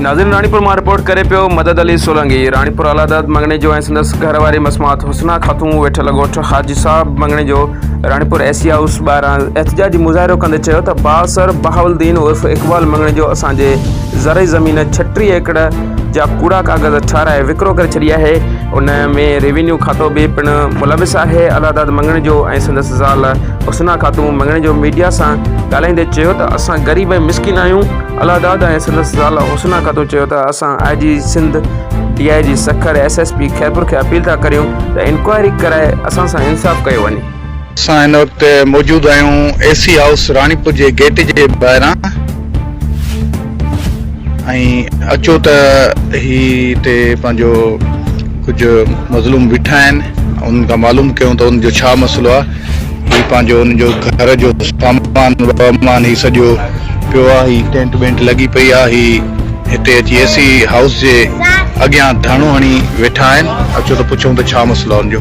ناظرين راڻيپور مان رپورٽ ڪري پيو مدد علي سولنگي راڻيپور اعليٰ عدالت مڱڻي جو ۽ سندس گهر واري مسمات حسنا خاتون ويٺل ڳوٺ خاجي صاحب مڱڻي جو راڻيپور اي سي هائوس ٻاهران احتجاجي مظاهرو ڪندي چيو ته بااثر بهاوالدين عرف اقبال مڱڻي جو اسان جي زرعي زمين ڇٽيهه ايڪڙ جا ڪوڙا ڪاغذ ٺاهرائي وڪرو ڪري ڇڏي آهي، ان ۾ ريونيو کاتو به پڻ ملوث آهي، الهداد مڱڻيجو ۽ سندس زال حسنا خاتون مڱڻيجو ميڊيا سان ڳالهائيندي چيو ته اسان غريب ۽ مسڪين آهيون، الهداد ۽ سندس زال حسنا خاتون چيو ته اسان I G Sindh, D I G Sukkur, S S P Khairpur کي اپيل ٿا ڪريون ته انڪوائري ڪرائي اسان سان انصاف ڪيو وڃي. اسان هن وقت موجود آهيون اي سي هائوس راڻيپور جي گيٽ جي ٻاهران ۽ اچو ته هي هتي پنهنجو ڪجهه مظلوم بيٺا آهن انهن کان معلوم ڪيون ته ان جو ڇا مسئلو آهي هي پنهنجو ان جو گهر جو سامان وامان هي سڄو پيو آهي هي ٽينٽ ٻينٽ لڳي پئي آهي هي هتي اچي اي سي هائوس جي اڳيان ڌرڻو هڻي ويٺا آهن اچو ته پڇون ته ڇا مسئلو آهي ان جو